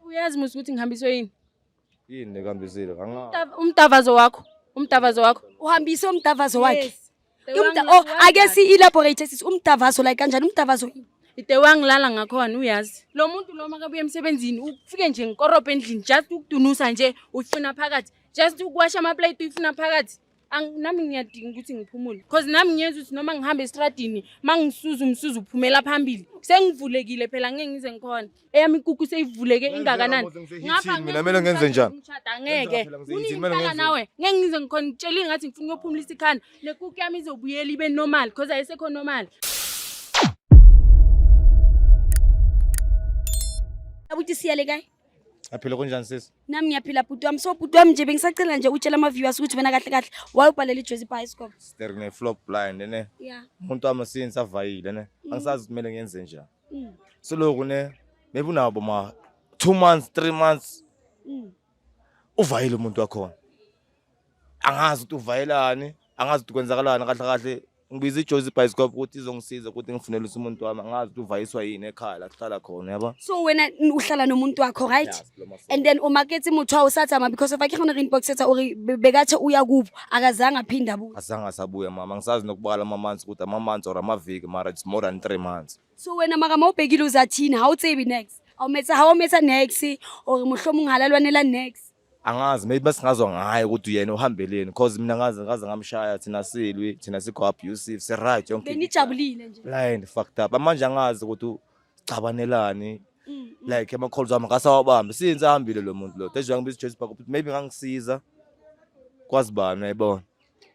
uyazi musa ukuthi ngihambiswe yini yini nekambisile umdavazo wakho umdavazo wakho uhambise umdavazo wakhe oh, ake si-elaborate sisi umdavazo like kanjani umdavazo yini ide wangilala ngakhona uyazi lo muntu lo makabuya emsebenzini ufike nje ngikorobha endlini just ukudunusa nje uyifuna phakathi just ukuwasha amaplate uyifuna phakathi nami ngiyadinga ukuthi ngiphumule cause nami ngiyenza ukuthi noma ngihamba estradini ma ngisuza umsuza uphumela phambili sengivulekile phela ngeke ngize ngikhona eyami inkukhu seyivuleke ingakanani mina kumele ngenze njani angeke uningitala nawe ngeke ngize ngikhona ngitshela ingathi ngifuna ukuyophumulisa ikhanda nekukhu yami izobuyela ibe normal cause ayisekho normal abuti siyale kae Aphila kunjani sisi? Nami ngiyaphila bhuti wami. So bhuti wami nje bengisacela nje utshela ama viewers ukuthi wena kahle kahle wayobhalela iJozi Bioscope. There ne flop blind ne. Yeah. Umuntu wami since avayile ne. Mm. Angisazi ukuthi kumele ngenze njani. Mm. So lokho ne maybe unabo ma 2 months, 3 months. Mm. Uvayile umuntu wakhona. angazi ukuthi uvayelani angazi ukuthi kwenzakalani kahle kahle ngibiza ijozi ibhayisikop ukuthi izongisiza ukuthi ngifunele usa umuntu wami angazi ukuthi uvayiswa yini ekhaya la kuhlala khona yabo so wena uhlala nomuntu wakho right and then umakethi muthu awusathama because of akhe khona inbox etha uri bekathe uya kubo akazange aphinde abuye azange asabuya mama ngisazi nokubala ama months ukuthi ama months or amaviki mara it's more than 3 months so wena maka mawubhekile uzathini how tsebi next awumetha how umetha next or muhlomo ungalalwanela next angazi maybe basingazwa ngaye ukuthi uyena uhambeleni because mina ngaze ngaze ngamshaya thina silwi thina sikho abusive si right yonke benijabulile nje blind fucked up amanje angazi ukuthi ucabanelani mm, mm. like ama calls wami ngasawabambi since ahambile lo muntu lo that's why ngibizwe Joyce Park maybe ngangisiza kwazi bani uyayibona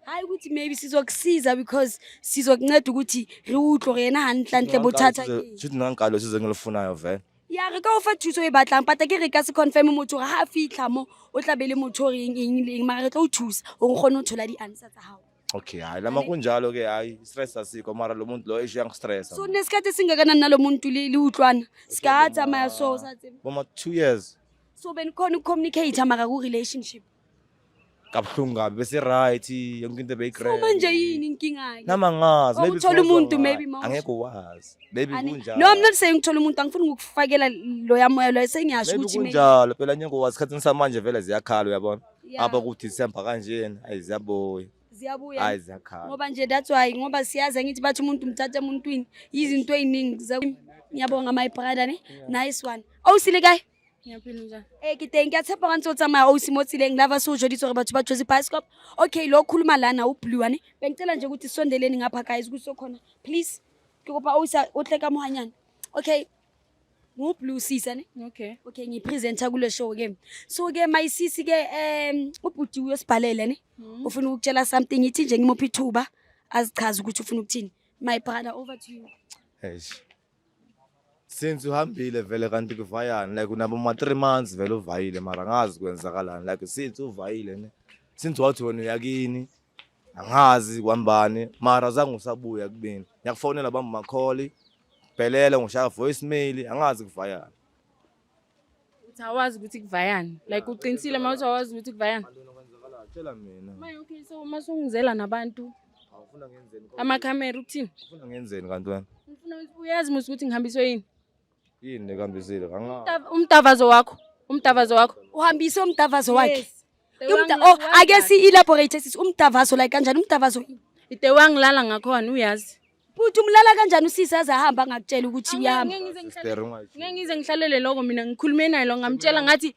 hayi ukuthi maybe sizokusiza because sizokunceda ukuthi re utlwe gore yena gantlentle bothata ke nna nkalo se zeng le funayo vele ya re ka o fa thuso e batlang pata ke re ka se confirm motho gore ga a fitlha mo o tla be le motho gore eng eng le eng mara re tla o thusa gore o kgone go thola di-answer tsa gago okay hayi lama kunjalo ke hayi stress asikho mara lo muntu lo esho yangistressa so nesikhathi esingakanani nalo muntu li li utlwana sikatsamaya so sa tseba boma two years so benikhona ukucommunicate mara ku-relationship kabuhlungu kabi bese right yonke into beyigreat manje yini inkinga ke nama ngazi maybe uthola umuntu maybe mawusho angeke wazi maybe kunjalo no i'm not saying uthola umuntu angifuni ukufakela lo yamoya lo sengiyasho ukuthi maybe kunjalo phela nyengo wazi khathini samanje vele ziyakhala uyabona apha ku December kanjena ayi ziyabuya ziyabuya hayi ziyakhala ngoba nje that's why ngoba siyazi ngithi bathi umuntu umthatha emuntwini izinto eziningi ngiyabonga my brother ne nice one awusile kahle ee ke teng ke a tshepa ga ntse o tsamaya o mo tseleng lava se o joditse gore batho ba jose bioscop okay lo khuluma lana o bluane bengicela nje ukuthi sondeleni ngapha guys ukuthi sokhona please ke kopa o sa o tle ka mohanyana okay ngu-blue sisa ne okay okay ngiyipresenta kule show ke so ke mayisisi ke um ubhuti uyosibhalele ne hmm. ufuna ukutshela something ithi nje ngimuphi ithuba azichaze ukuthi ufuna ukuthini my brother over to you since uhambile vele kanti kuvayani like unabo ma three months vele uvayile mara angazi kwenzakalani like since uvayile ne since wathi wena uyakini angazi kwambani mara zange usabuya kubini ngiyakufonela bamba makholi bhelele ngishaya voice mail angazi kuvayani uthi awazi ukuthi kuvayani like uqinisile uma uthi awazi ukuthi kuvayani tshela mina maye okay so uma sungizela nabantu awufuna ngenzeni amakhamera ukuthini ufuna ngenzeni kanti wena ngifuna uyazi musa ukuthi ngihambiswe yini yini nekambisile umtavazo wakho umtavazo wakho uhambise umtavazo wakhe oh, ake si-elaborate sisi umtavazo like kanjani umtavazo ide wangilala ngakhona uyazi Bhuti umlala kanjani usisi aze ahamba angakutshela ukuthi uyahamba. Sister ungathi. Ngeke ngize ngihlalele lokho mina ngikhulume naye lo ngamtshela ngathi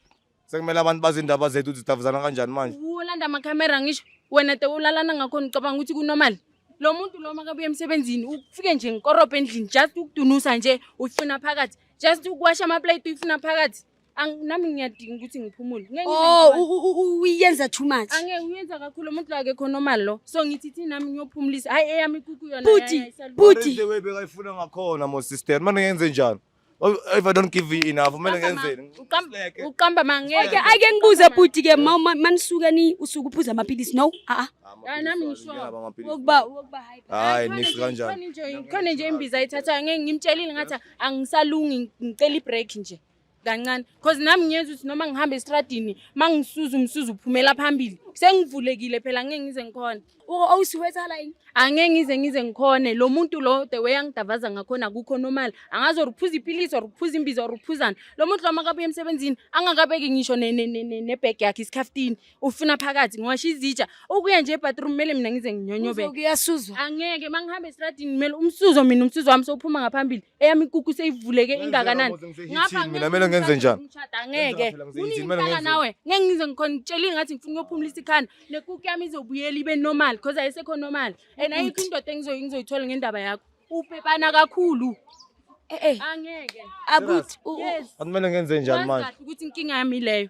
Sekumele abantu bazi indaba zethu ukuthi sidavuzana kanjani manje. ulanda amakhamera ngisho wena te ulalana ngakhona ucabanga ukuthi kunormal. Lo muntu lo makabuye emsebenzini ufike nje ngikorobhe endlini just ukudunusa nje uyifuna phakathi. Just ukuwasha amaplate uyifuna phakathi. Ang- nami ngiyadinga ukuthi ngiphumule Ngeke ngize Oh, ngikwazi. u- u- u- uyenza too much. angeke uyenza kakhulu umuntu lo akekho normal lo so ngithi thi nami ngiyophumulisa hayi eyami ikuku yona Bhuti, yayi, ayisalungi. What is bhuti. the way bekayifuna ngakhona mo sister manje ngenze njani Oh, if i don't give you enough kumele Uqamba ma- ngenzeni uqamba- Ngileke. uqamba mangeke Ake ake ngibuze bhuti ke ma ma- manisuka ni usuku uphuza amaphilisi no. Ah ah. Hayi, nami ngisho. Nginaba amaphilisi. Wokuba wokuba hayi. hayi Khona nisi nje- kanjani khona nje- khona nje imbiza ayithathayo ngeke ngimtshelile ngathi angisalungi ngicela ibreak nje kancane cause nami ngiyeza ukuthi noma ngihamba estradini uma ngisuza umsuza uphumela phambili sengivulekile phela ngeke ngize ngikhona owusiwethala yini angeke ngize ngize ngikhone lo muntu lo the way angidavaza ngakhona akukho normal angazi or uphuza iphilisi or uphuza imbiza or uphuzani lo muntu lo makabuya emsebenzini angakabeki ngisho nebhegi yakhe isikhaftini ufuna phakathi ngiwasho izitsha ukuya nje ebathroom kumele mina ngize nginyonyobe angeke uma ngihamba estradini kumele umsuzo mina umsuzo wami sowuphuma ngaphambili eyami inkukhu seyivuleke ingakanani ngapha mina mele ngenze njani ngeke uningitala nawe ngeke ngize ngikhona ngitshela ingathi ngifuna ukuyophumulisa ikhanda nekukhu yami izobuyela ibe normal because ayisekho normal and ayikho indoda engizoyithola ngendaba yakho ubhebana kakhulu eh, eh. angeke abuthi akumele ngenze njani manje ukuthi inkinga yami leyo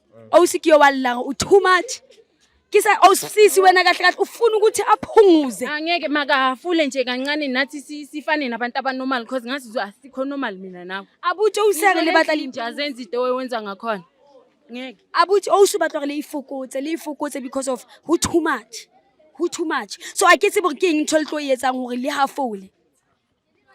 Owusikiyo walila u too much. Kisa awusisi wena kahle kahle ufuna ukuthi aphunguze. Angeke makahafule nje kancane nathi si- sifane nabantu abanormal because ngathi zo asikho normal mina nawe. Abuthi owuseke le batla nje azenza into owenza ngakhona. Ngeke. abuthi owusu batla gore le ifokotse le ifokotse because of who too much who too much so a ke tsebo ke eng ntho le tlo e etsang gore le hafole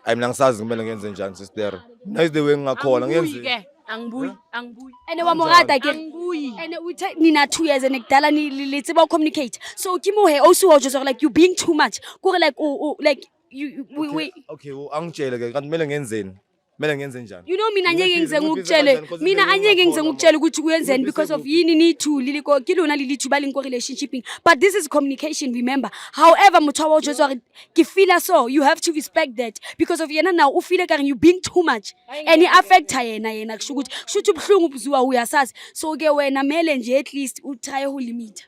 ayi mina ngisazi kumele ngenze njani sister mina is the way ngingakhona ngenze ke angibuyi angibuyi ene wa morata ke angibuyi ene uthe nina two years ene kudala ni le tseba communicate so ke mo he also was just like you being too much kore like u like you we we okay angitshele ke kanti kumele ngenzeni kumele ngenze njani you know mina angeke ngize ngikutshele mina angeke ngize ngikutshele ukuthi kuyenzeni because of yini ni two lili ko ke lona lili two ba leng ko relationshiping but this is communication remember however motho wa o jwetsa gore ke feela so you have to respect that because of yena now u feel ekare you being too much and i-affecta yena yena kusho ukuthi kusho ukuthi ubuhlungu ubuziwa uyasazi so ke wena mele nje at least utraye ulimita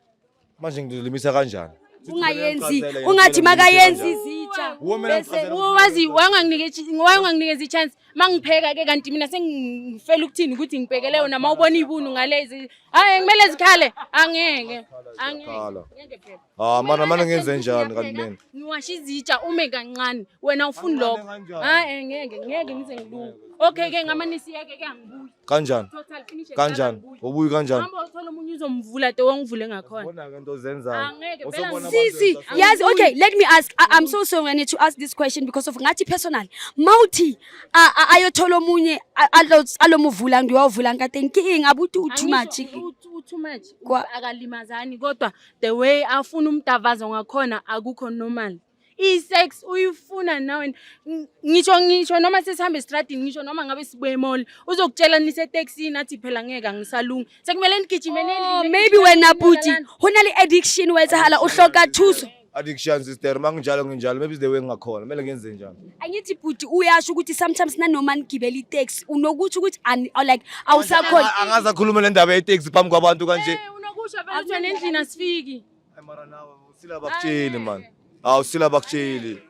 manje ngilimisa kanjani ungayenzi ungathi makayenzi izitsha bese wazi wanganginikeza ichance mangipheka ke kanti mina sengifela ukuthini ukuthi ngibhekele yona ma ubona ibunu ngalezi hayi ngimele zikhale angeke angeke ngeke phela Ah mara mara ngenze njani kanti mina? Ngiwasha izitsha ume kancane. Wena ufuni lokho. Ah eh ngeke ngeke ngize ngilunge. Okay ke ngama nisiyeke ke angibuyi. Kanjani? Total finish. Kanjani? Ubuyi kanjani? Hamba uthola umunye uzomvula te wongivule ngakhona. Ubona ke into ozenzayo. Ah, ngeke phela. Sisi, yazi okay, let me ask. I, I'm so sorry I need to ask this question because of ngathi personal. Mawuthi ayothola omunye alomuvula ngiyovula ngikade nkinga abuthi u too much. Too much. Akalimazani kodwa the way afuna umdavazo ngakhona akukho normal i-sex uyifuna nawe ngisho ngisho noma sesihambe estradini ngisho noma ngabe sibuye emall uzokutshela niseteksini athi phela ngeke angisalungi sekumele nigijimele oh, maybe wena bhuti ho na le addiction o etsahala o hloka thuso addictions is there manginjalo nginjalo maybe is the way ngingakhona kumele ngenze njani angithi bhuti uyasho ukuthi sometimes nanoma nigibela itaxi unokuthi ukuthi ani- or like awusakhona Anga- angaze akhulume le ndaba yeteksi phambi kwabantu kanje Akusho nendlini asifiki. Ay, mara nawe, usile abakutsheli man hawu usile abakutsheli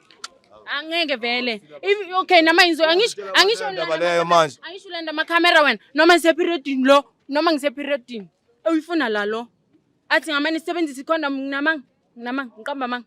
Angeke vele. If- Okay nama inzo angisho angisho Ndaba leyo manje. angisho landa ama camera wena noma ngise period lo noma ngise period. Uyifuna la lo. Athi ngamane sisebenzisa icondom nginamanga nginamanga ngiqamba manga.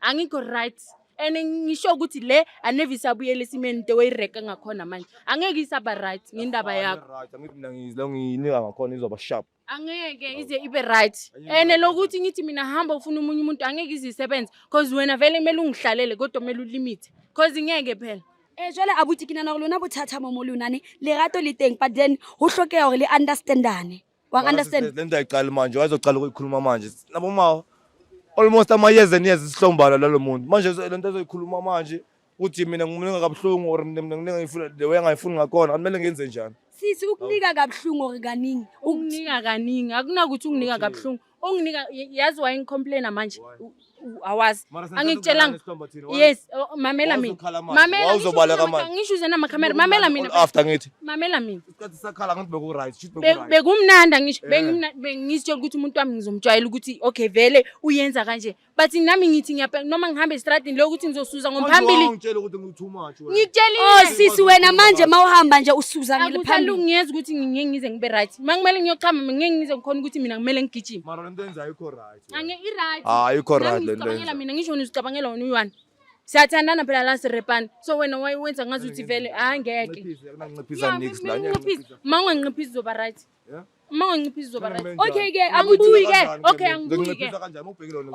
angikho right and ngisho ukuthi le aneve isabuyela esimeni the way ireka ngakhona manje angeke isaba right ngendaba yakho Right, angithi mina ngizile ngiyinika ngakhona izoba sharp angeke ize ibe right and lokuthi ngithi mina hamba ufuna umunye umuntu angeke ize isebenze cause wena vele kumele ungihlalele kodwa kumele ulimite cause ngeke phela Eh jwale abuti ke nana gore lona bothata mo mo lona ne lerato le teng but then ho hlokeha gore le understandane. Wang understand? Le nto ayiqali manje, wayezoqala ukuyikhuluma manje. Nabo ma almost amayeza niyeza isihlombala lalo muntu. Manje zo- le nto azoyikhuluma manje ukuthi mina ngimninga kabuhlungu or mina mina ngifuna the way angayifuni ngakhona, akumele ngenze njani. Sisi ukunika kabuhlungu or kaningi. Ukunika kaningi akunakuthi unginika kabuhlungu. onginika yazi wayengicomplaina manje awazi angikutshelanga yes oh, mamela mina mamelaangisho uzena amakhamera mamela minaafter ngithi mamela mina isikhathi sakhala ngathi beku-right shit beku-right bekumnandi angisho bengizitshela ukuthi umuntu wami ngizomjwayela ukuthi okay vele uyenza kanje but nami ngithi ngiyapela noma ngihamba estradini leyo ukuthi ngizosuza ngomphambili ngitshela ukuthi ngithi umathi wena ngitshela oh sisi wena manje mawuhamba nje usuza ngiliphambili ngiyeza ukuthi ngingeke ngize ngibe right mangimele ngiyochama ngingeke ngize ngikhona ukuthi mina ngimele ngigijime mara lento enza ayikho right ange i right ah ayikho right lento ngicabangela mina ngisho ngizicabangela wena uyani siyathandana phela la sirepani so wena wayenza ngazi ukuthi vele hayi ngeke ma unganqiphisi uzoba right Uma ungancipha izoba right. Okay ke abubuyi ke. Okay angibuyi ke.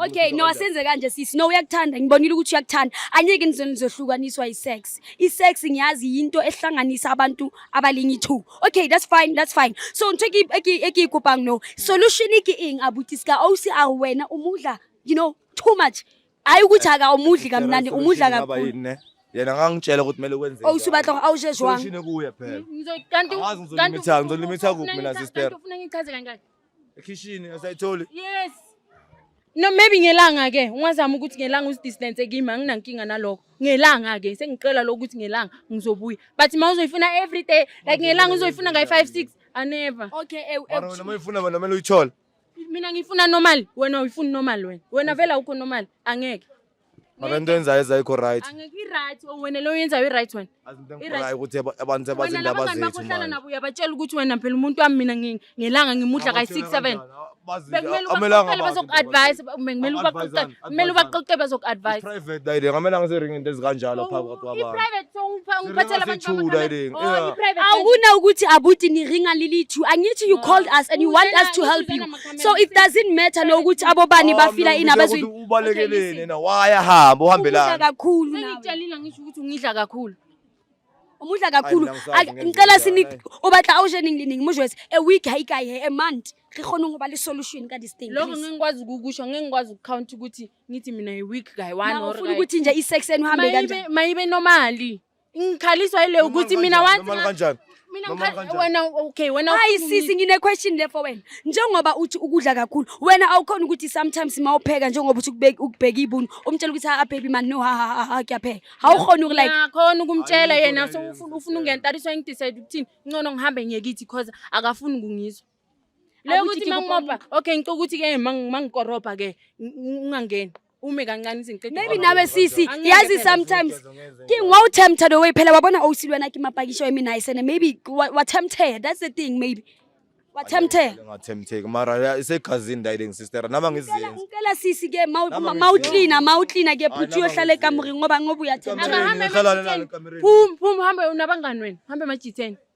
Okay no asenze kanje sisi no uyakuthanda ngibonile ukuthi uyakuthanda. Anyeke nizweni nizohlukaniswa isex. Isex ngiyazi yinto ehlanganisa abantu abalingi two. Okay that's fine that's fine. So ngitheke eki eki kupang no. Solution iki ing abuti ska awusi awena umudla you know too much. hayi ukuthi akawumudli kamnandi umudla kakhulu yena ngangitshela ukuthi kumele kwenze oh usubatla ngo awushe jwang ushine kuye phela kanti kanti ngizolimitha kuphi mina sister ufuna ngichaze kanjani ekhishini asayitholi yes no maybe ngelanga ke ungazama ukuthi ngelanga usidistance kimi anginankinga nalokho ngelanga ke sengicela lokuthi ngelanga ngizobuya but ma uzoyifuna every day like ngelanga uzoyifuna ngayi 5 6 anever okay eh, eh, wena uma uyifuna bona kumele uyithole Mina ngifuna normal, wena uyifuna normal wena. Wena vela ukho normal, angeke. Mara into enzayo ezayikho right. Angeke i-right, oh, wena lo yenzayo i-right wena. Azinto I-right. engikhorayo ukuthi aba- abantu Wena abazi indaba labangani bakho zethu ohlala manje. nabo uyabatshela ukuthi wena phela umuntu wami mina ngi- ngelanga ngimudla kayi-six seven. Bekumele ubaxoxele bazoku-advise, bekumele ubaxoxele. kumele ubaxoxe bezoku-advise private dayile ngamele angiziringi into ezikanjalo phambi kwakho abantu i-private so ungipha- ungiphathela abantu Sithula, bamakhaya- Irene. Oh, Yeah. i-private awuna ukuthi abuti niringa lilithu angithi you called us and you want us to help you so it doesn't matter nokuthi abobani bafila ini abazwi abezwini ubalekeleni na wayahamba uhambelani kakhulu nawe. sengikutshelile ngisho ukuthi ungidla kakhulu Umudla kakhulu. Ngicela sinik ubatla awushening lining mujwes a week hayi kai he a month. Re khona ngoba le solution ka this thing. Lokho ngingikwazi ukukusho ngingikwazi ukucount ukuthi ngithi mina a week guy one or. Ufuna ukuthi nje i sex enu hambe kanjani? Mayibe normally. Ngikhaliswa ile ukuthi mina wanti. Kanjani? Mina ngikhala wena okay wena Hayi sisi ngine question le for wena. Njengoba uthi ukudla kakhulu, wena awukhona ukuthi sometimes mawupheka njengoba uthi ukubeka ukubheka ibunu, umtshela ukuthi ha baby man no ha ha ha kuyapheka. Awukhona uku like. Ngiyakhona ukumtshela yena so ufuna ufuna ungentariswa engidecide ukuthini. Ngcono ngihambe ngiyekithi because akafuni ukungizwa. Leyo ukuthi mangimoba okay ngicela ukuthi ke mangikorobha ke ungangeni. ume kancane izinqede maybe nawe sisi yazi sometimes ke ngwa utempted the way phela wabona owusilwa na kimapakisho emi nice and maybe wa tempted that's the thing maybe wa tempted ngatempteka mara isegazini ndayiding sister nama ngiziyenza ngicela sisi ke mawucleaner mawucleaner ke phuthi uyohlala ekamureni ngoba ngoba uyathemba akahambe pum pum hambe unabangani wena hambe majitheni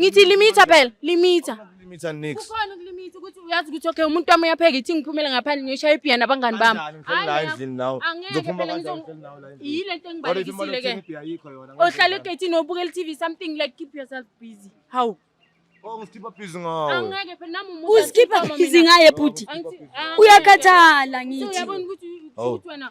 Ngithi limitha phela, limitha. Limitha nix. Kukhona ukulimitha ukuthi uyazi ukuthi okay umuntu wami uyapheka ithi ngiphumele ngaphandle ngiyoshaya ibhiya nabangani bami. Ngifela la endlini nawe. Ngizophuma kanjani ngifela nawe la endlini. Yile nto engibalekisile ke. Ohlala egethini obukela iTV something like keep yourself busy. How? Oh, ngikhipha busy ngawe. Angeke phela nami umuntu. Usikhipha busy ngaye bhuti. Uyakhathala ngithi. Uyabona ukuthi ukuthi wena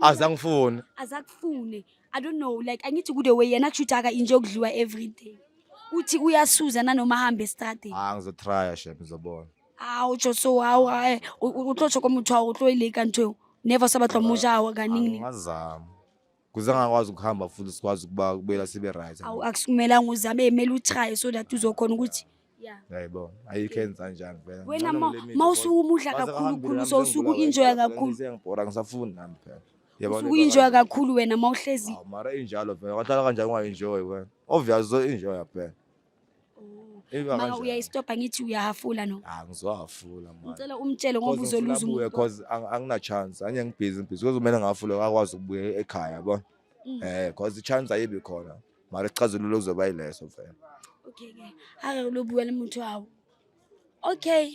azangifuni azakufune i don't know like angithi kude way yena kushuthi aka inje okudliwa every day uthi uyasuza nanoma ahambe estradini hayi ah, ngizotrya shem ngizobona awu tsho so hawu eh, utlotsho komuthi wawo utloyile kanti never sabatlwa musha awa kaningi ngazama kuze angakwazi ukuhamba futhi sikwazi ukuba kubuyela sibe right awu akusukumelanga uzame emele uchaye so that uzokhona ukuthi yeah yayibona ayikho enza njani phela wena ma usuke umudla kakhulu khulu so usuke uinjoya kakhulu ngibhora ngisafuni nami phela usuke uinjoya kakhulu wena ma uhlezi mara injalo phela wahlala kanjani ungainjoyi wena obvious so injoya phela Eba Maka kanjani? uyayistopha ngithi uyahafula no. Ah, ngizowafula manje. Ngicela umtshele ngoba Cause ngifuna uzoluza abuye, umuntu. cause ang- angina chance anye ngibhizi ngibhizi cause kumele ngafule akwazi ukubuya ekhaya yabo Mm. eh cause i-chance ayibi khona mara isixazululo kuzoba yileso vele Okay ke. Ake lobuya lemuntu wawo. Okay.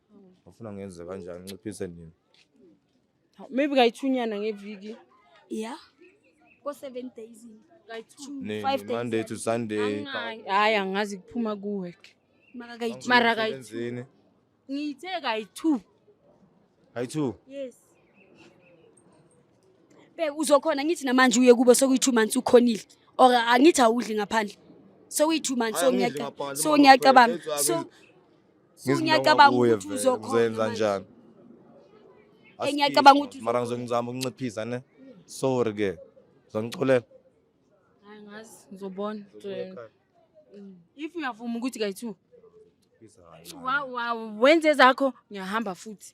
Ufuna ngenze kanjani nciphise nini? Maybe kayithunyana ngeviki. Yeah. Ko 7 days. Nini? Five days. Monday to Sunday. Angayi. Hayi angazi kuphuma ku work. Maka kayi-two. Mara kayi-two. Emsebenzini. Ngithe kayi-two. Hayi two. Yes. Be uzokhona ngithi namanje uye kubo sokuyi 2 months ukhonile or angithi awudli ngaphandle. Sokuyi 2 months so Angidli ngiyacabanga. ngaphandle, So mama, ngiyacabanga. Fred, So so Ngizinto ngiyacabanga ngakuye ukuthi vele, uzokhona uzoyenza manje. njani Eh, ngiyacabanga ukuthi mara ngizongizama ukunciphisa ne sorry ke zongiculela Hayi ngazi ngizobona. If uyavuma ukuthi kayi-2 wa- wa- wenze zakho ngiyahamba futhi.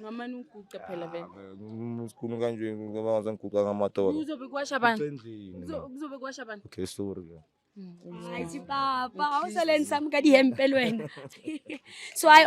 ngamane uguqe phela vele ah, sikhulu kanje ngoba ngaze ngiguqa ngamadolo kuzobe kwasha abantu kuzobe kwasha abantu okay sorry hayi mm. sipapa awusaleni sami kadihempel wena so hayi